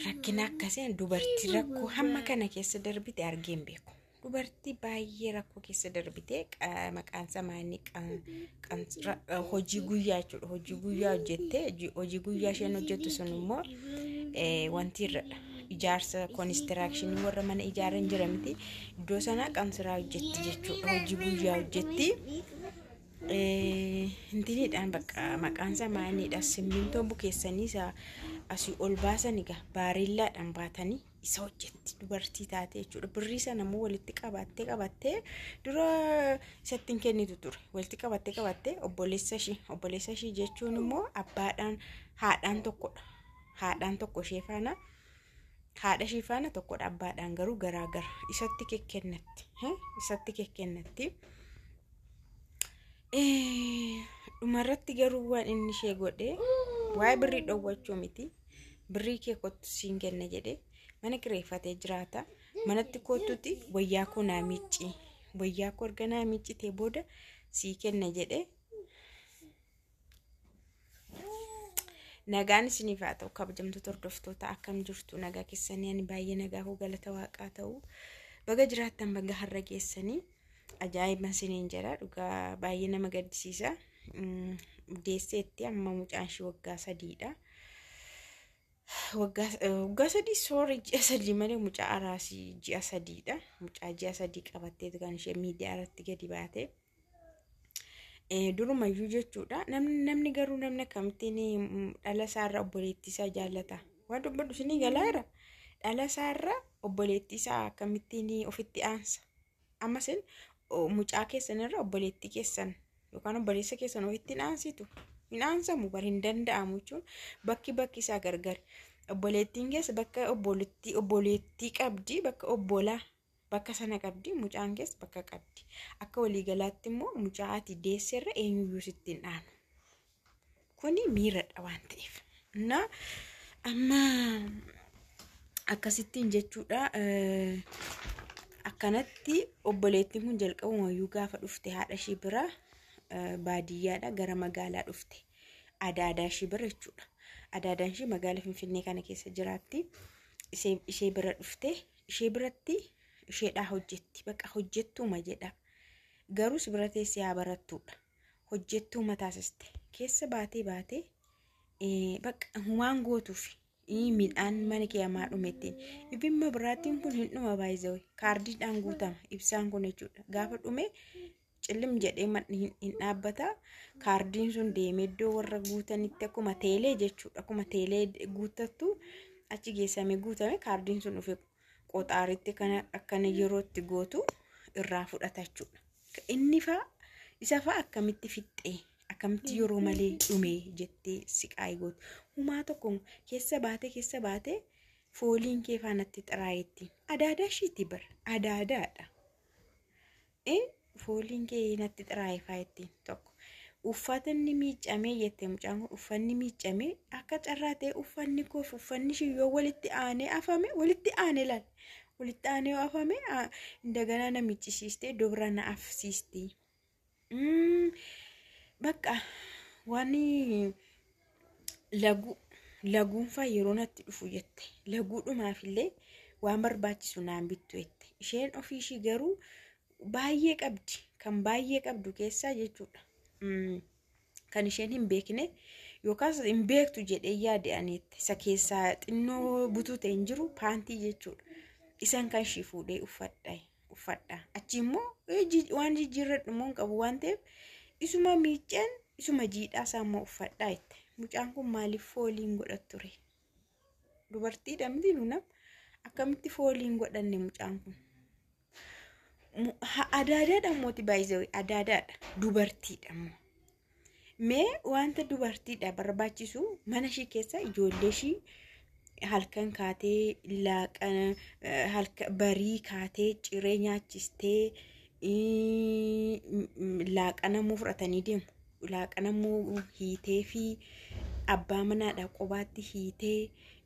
Rakkina akkasiin dubartii rakkoo hamma kana keessa darbite argee hin beeku. Dubartii baay'ee rakkoo keessa darbite qa- maqaan isaa maanni qan- qan- ra- eh, hojii guyyaa jechuudha. Hojii guyyaa hojjettee hojii- hojii guyyaa isheen hojjettu sun immoo eh, wanti irradha. Ijaarsa konistiraakshinii warra mana ijaaran jira miti. Iddoo sana qansiraa hojjetti jechuudha. Hojii guyyaa hojjetti. Hintiniidhaan bakka maqaan isaa maayiniidha. Simmintoo bukeessanii isa asii ol baasan egaa baareellaadhaan baatanii isa hojjetti dubartii taate jechuudha. Birrii sana immoo walitti qabattee qabattee dura isatti hin kennitu ture. Walitti qabattee qabattee obboleessa ishii obboleessa ishii jechuun immoo abbaadhaan haadhaan tokkodha. Haadhaan tokko ishee faana haadha ishii faana tokkodha abbaadhaan garuu garaa gara isatti kekkennatti isatti kekkennatti. dhumarratti garuu waan inni ishee godhe waa'ee birrii dhowwachuu miti birrii kee kottu siin kenna jedhe mana kireeffatee jiraata manatti kottuti wayyaa koo naa miicci wayyaa koo erga naa miiccitee booda sii kenna jedhe Nagaan isiniif haa ta'u kabajamtoota hordoftoota akkam jirtu nagaa keessanii ani baay'ee nagaa hoo galata waaqaa ta'u baga jiraattan baga har'a geessanii ajaa'iban isiniin jedha dhugaa baay'ee nama gaddisiisa deesseetti amma mucaan ishii waggaa sadiidha. Waggaa sadii soora ji'a sadii malee mucaa araasii ji'a sadiidha mucaa ji'a sadii qabatteetu kan ishee miidiyaa irratti gadi baatee. durumayyuu jechuudha namni namni garuu namni akkamittiin dhala isaarra obboleettii isaa jaallata waan dubbadhu isinii galaara dhala isaarra obboleettii isaa akkamittiin ofitti aansa ammas mucaa keessan irra obboleettii keessan yookaan obboleessa keessan ofitti hin aansitu hin aansamu bar hin danda'amu jechuun bakki bakki isaa gargari obboleettiin keessa bakka obboleettii obboleettii qabdi bakka obbolaa bakka sana qabdi, mucaan kees bakka qabdi. Akka waliigalaatti immoo mucaa ati deesserra eenyuyyuu sitti hin aanu. Kuni miiradha waan ta'eef. Innaa amma akkasittiin jechuudha eh, akkanatti obboleettiin kun jalqabumayyuu gaafa dhufte haadha ishii bira eh, baadiyyaadha gara magaalaa dhufte adaadaa ishii bira jechuudha adaadaan ishii magaala finfinnee kana keessa jiraatti ishee ishee bira dhufte ishee biratti isheedhaa hojjetti baqa hojjettuuma jedha garuus bira teessee haa barattuudha hojjettuu mataasiste keessa baatee baatee baqa humaan gootuuf midhaan mana kee hamaa dhumettiin ibimma biraatiin kun hin dhuma baay'isawee kaardiidhaan guutama ibsaan kun jechuudha gaafa dhume cillim jedhee manni hin- hin dhaabbata kaardiin sun deemee iddoo warra guutanitti akkuma teelee jechuudha akkuma teelee guuttattu achi geessame guutame kaardiin sun dhufe qoxaaritti kana akkana yerootti gootu irraa fudhata jechuudha inni faa isa faa akkamitti fixxee akkamitti yeroo malee dhume jettee siqaayi gootu humaa tokko keessa baatee keessa baatee fooliin kee faanatti xiraayetti adaadaa ishiiti bar adaadaadha. Ee fooliin kee natti xiraayifaa ittiin tokko uffatanni miiccamee jette mucaan kun uffanni miiccamee akka carraa ta'e uffanni koof uffanni ishii yoo walitti aanee afame walitti aanee laal walitti aanee yoo afame aa, indaganaa na miiccisiistee iddoo biraa na afsiisti. Mm, Bakka waan Laguu laguunfaa yeroo natti dhufu jette laguudhumaafillee waan barbaachisu naan bittu jette isheen ofii ishii garuu baay'ee qabdi kan baay'ee qabdu keessaa jechuudha Mm, kan isheen hin beekne yookaas hin beektu jedhee yaade ani jette isa keessaa xinnoo butuu ta'e hin jiru paantii jechuudha isan kan ishii fuudhee uffadha uffadha achi immoo waan jijjiirradhu immoo hin qabu waan ta'eef isuma miicceen isuma jiidhaa isaa immoo uffadhaa jette mucaan kun maaliif fooliin godha ture dubartii dhamti nunam akkamitti fooliin godhanne mucaan kun adaadaadha mooti baay'isee adaadaadha dubartiidha immoo Mee wanta dubartiidha barbaachisu mana ishii keessa ijoollee ishii halkan kaatee laaqana eh, halka barii kaatee ciree nyaachistee ii, m- m- laaqanamuu fudhatanii deemu. Laaqanamuu hiitee fi abbaa manaadha qobaatti hiitee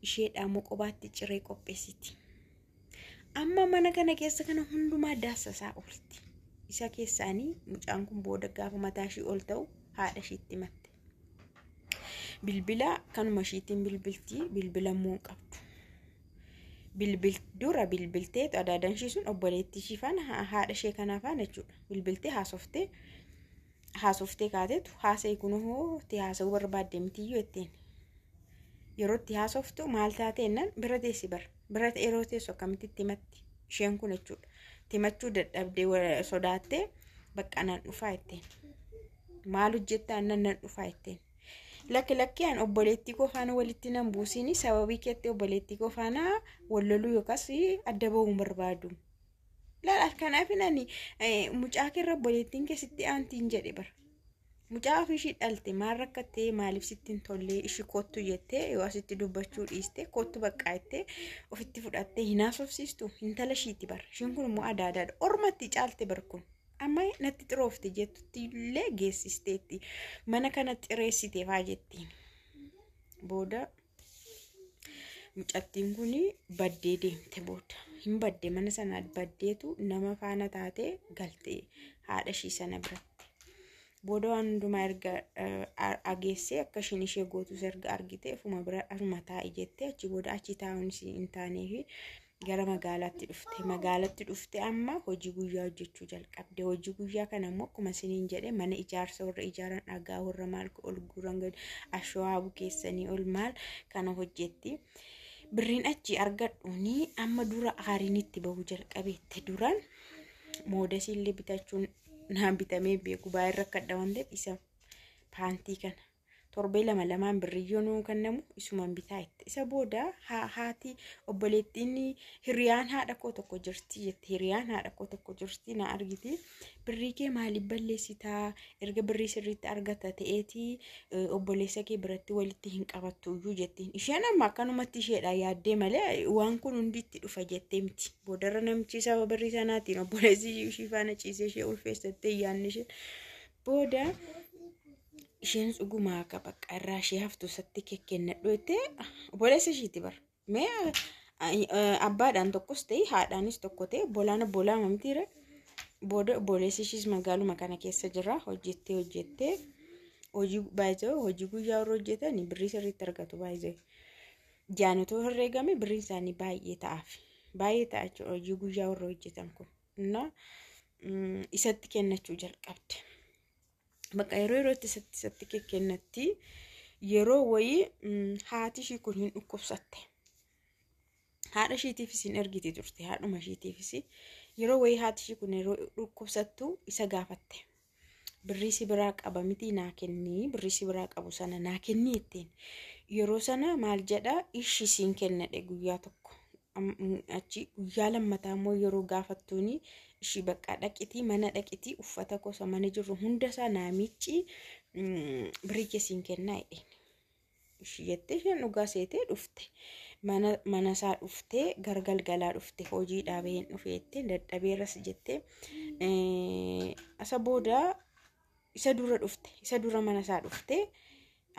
isheedhaa immoo qobaatti ciree qopheessiti. Amma mana kana keessa kana hundumaa daassasaa oolti. Isa keessaanii mucaan kun booda gaafa mataa ishii ol ta'u haadha ishiitti matte. Bilbila kanuma ishiitiin bilbilti bilbila immoo hin qabdu. Bilbil dura bilbiltee adaadaan ishii sun obboleettii ishii faana haadha ishee kanaa faana jechuudha. Bilbiltee haasoftee haasoftee kaatetu haasa'i kunoo itti haasa'uu barbaadde mitiyyuu jetteen. Yeroo itti haasoftu maal taatee jennaan bira teessi bar. Bira yeroo teessu akkamitti itti himatti isheen kun jechuudha. Itti himachuu dadhabdee wa- sodaattee bakka nan dhufaa jetteen. Maal hojjettaa jennaan nan dhufaa jetteen. Lakki lakki an obboleettii koo faana walitti nan buusiini sababii keetti obboleettii koo faana wal loluu yookaas adda ba'uu hin barbaadu. Laal kanaaf ani mucaa keerra obboleettiin kee sitti aantiin jedhe bara. Mucaa ofii ishii dhalte maal rakkattee maaliif sitti hin tollee ishi kottu jettee yoo asitti dubbachuu dhiiste kottu baqqaa jettee ofitti fudhattee hin haasofsiistu intala ishiiti bara. Ishiin kun immoo adaadaadha. Ormatti caalte bara kun. Amma natti xiroofte jettutti illee geessisteetti. Mana kana xireessiteefaa jettiin. Booda mucattiin kun baddee deemte booda hin badde mana sanaa baddeetu nama faana taatee galte haadha ishii sana biratti. Booda waan hundumaa erga ageessee akka isheen ishee gootus erga argite ofuma bira asuma taa'i jettee achi booda achi taa'uun hin taanee fi gara magaalaatti dhufte magaalatti dhufte amma hojii guyyaa hojjechuu jalqabde hojii guyyaa kana immoo akkuma isiniin jedhe mana ijaarsa warra ijaaran dhagaa warra maal ol guuran gadi ashawaa bukeessanii ol maal kana hojjetti birriin achi argadhuuni amma dura aariin itti bahu jalqabeette duran moodasiillee bitachuun naan bitamee beeku baay'ee rakkadha waan ta'eef isa paantii kana torbee lama lamaan birriyyoo nuun kennamu isuman bitaa itti isa booda ha- haati obboleettiin hiriyaan haadha koo tokko jirti jette hiriyaan haadha koo tokko jirti na argiti birrii kee maaliif balleessitaa erga birrii sirriitti argata ta'eeti eh, obboleessa kee biratti walitti hin qabattu iyyuu jettiin isheen amma akkanumatti isheedha yaaddee malee waan kun hundi itti dhufa jettee miti boodarra namichi saba birrii sanaatiin obboleessi ishii faana ciisee ishee ulfeessattee yaanni ishee booda isheen dhugumaa akka bakka irraa ishee haftu isatti kekkennadhu jettee obboleessa ishiiti bar mee abbaadhaan tokkos ta'e haadhaanis tokko ta'e obbolaan obbolaa mamtiire booda obboleessi ishiis magaaluma kana keessa jira hojjettee hojjettee hojii baay'ee hojii guyyaa warra hojjetan birrii sirriitti argatu baay'ee jaanotoo herreegame birriin isaanii baay'ee ta'aaf baay'ee ta'a jechuudha hojii guyyaa warra hojjetan kun innaa isatti kennachuu jalqabde. bakka yeroo yerootti isatti isatti kennatti yeroo wayii haati ishii kun hin dhukkubsatte. Haadha ishiitiifis hin ergiti turte haadhuma ishiitiifis yeroo wayii haati ishii kun yeroo dhukkubsattu isa gaafatte. Birrii si biraa qaba mitii naa kennii birrii si biraa qabu sana naa kennii ittiin yeroo sana maal jedha ishi siin kennadhe guyyaa tokko achi guyyaa lammataa immoo yeroo gaafattuuni ishii bakka dhaqitii mana dhaqitii uffata gosa mana jirru hunda isaa naamichi birii kesiin kennaa jedheen. Ishii jettee isheen dhugaa seetee dhufte mana mana isaa dhuftee gara galgalaa dhufte hojii dhaabeen dhufeettee dadhabeeras jettee isa booda isa dura dhufte isa dura mana isaa dhufte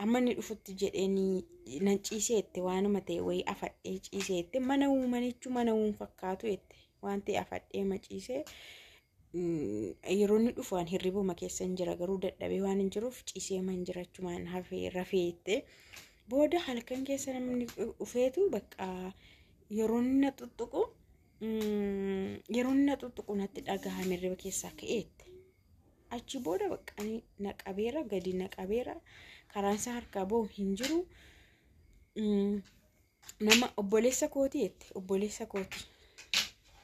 amma inni dhufutti jedheenii nan ciisee itti waanuma ta'e wayii afadhee ciisee itti mana uumanichu mana uum fakkaatu itti waan ta'e afadhee ma ciisee yeroo inni dhufu waan hirribuma keessa hin jira garuu dadhabee waan hin jiruuf ciisee man jirachumaan hafee rafee itti booda halkan keessa namni dhufeetu bakka yeroo inni na tuttuqu yeroo inni na tuttuqu natti dhagahame hirriba keessaa ka'eetti. achi booda baqqani na qabeera gadi na qabeera karaan isaa harkaa bahu hin jiru nama obboleessa kooti jette obboleessa kooti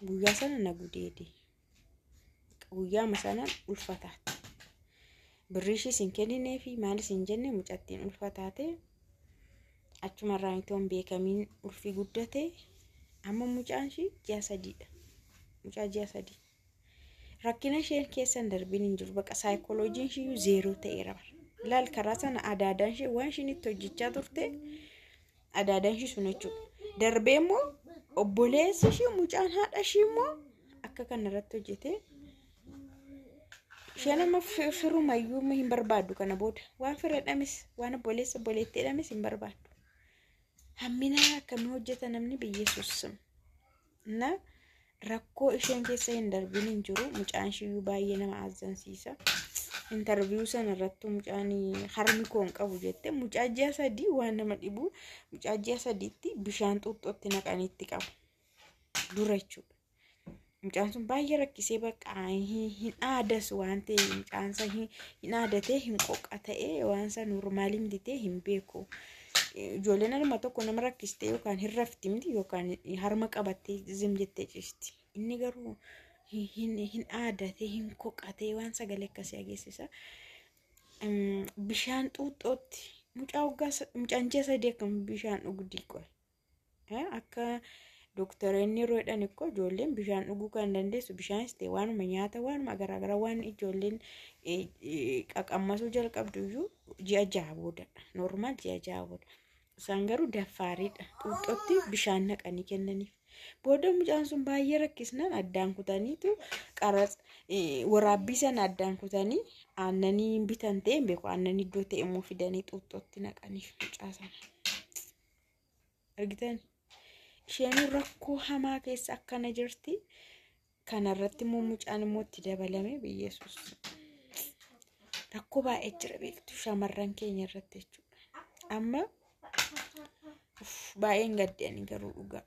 guyyaa sana na gudeede guyyaama sana ulfataate birrii ishiis hin kenninee fi maalis hin jenne mucattiin ulfataate achumarraa mitoon beekamiin ulfi guddate amma mucaan ishii ji'a sadiidha mucaa ji'a sadii Rakkina isheen keessa hin darbin hin jiru. Baqa saayikolojiin ishiyyuu zeeroo ta'eera bara. Ilaal karaa sana adaadaan ishee waan ishiin itti hojjechaa turte adaadaan ishii sun jechuudha. Darbee immoo obboleessi ishii mucaan haadha ishii immoo akka kana irratti hojjetee isheen amma fi- firumayyuu amma hin barbaaddu kana booda waan fireedhamis waan obboleessa obboleettiidhamis hin barbaaddu. Hammina akkamii hojjeta namni biyyeessuus. na rakkoo isheen keessa hin darbin hin jiru mucaan ishiyyuu baay'ee nama azzansiisa intarviyuu sana irrattuu mucaan harmi koo hin qabu jette mucaa ji'a sadii waan nama dhibu mucaa ji'a sadiitti bishaan xuuxxootti naqanii itti qabu dura jechuudha. Mucaan sun baay'ee rakkisee bakka hin aadas waan ta'e mucaan isaa hin aadatee hin qoqa ta'ee waan isaa noormaalii miti ta'e hin beeku. Ijoolleen harma tokko nama rakkistee yookaan hin rafti miti yookaan harma qabattee zim jettee ciisti. Inni garuu hin- hin hin aadatee hin koqatee waan sagalee akkasii ageessisa. Em, Bishaan xuuxxootti mucaa waggaa sa- mucaan ji'a sadii akkam bishaan dhugdi qoy. Akka dooktaroonni yeroo jedhan ikkoo ijoolleen bishaan dhuguu kan dandeessu bishaanis ta'e waanuma nyaata waanuma garaagaraa waan ijoolleen qaqammasuu jalqabdu iyyuu ji'a jaha booda noormaal ji'a jaha booda. Isaan garuu daffaariidha. Xuuxxotti bishaan naqanii kennaniif. Booda mucaan sun baay'ee rakkisnaan addaan kutaniitu qaras waraabbii sana addaan kutanii aannanii bitan ta'e hin beeku aannanii iddoo ta'e immoo fidanii xuuxxotti naqaniif mucaa sana. argitan isheen rakkoo hamaa keessa akkana jirti kanarratti immoo mucaan immoo itti dabalame biyyeessus rakkoo baay'ee jira beektu shamarran keenya irratti jechuudha amma uff, baay'een gaddeen garuu dhugaa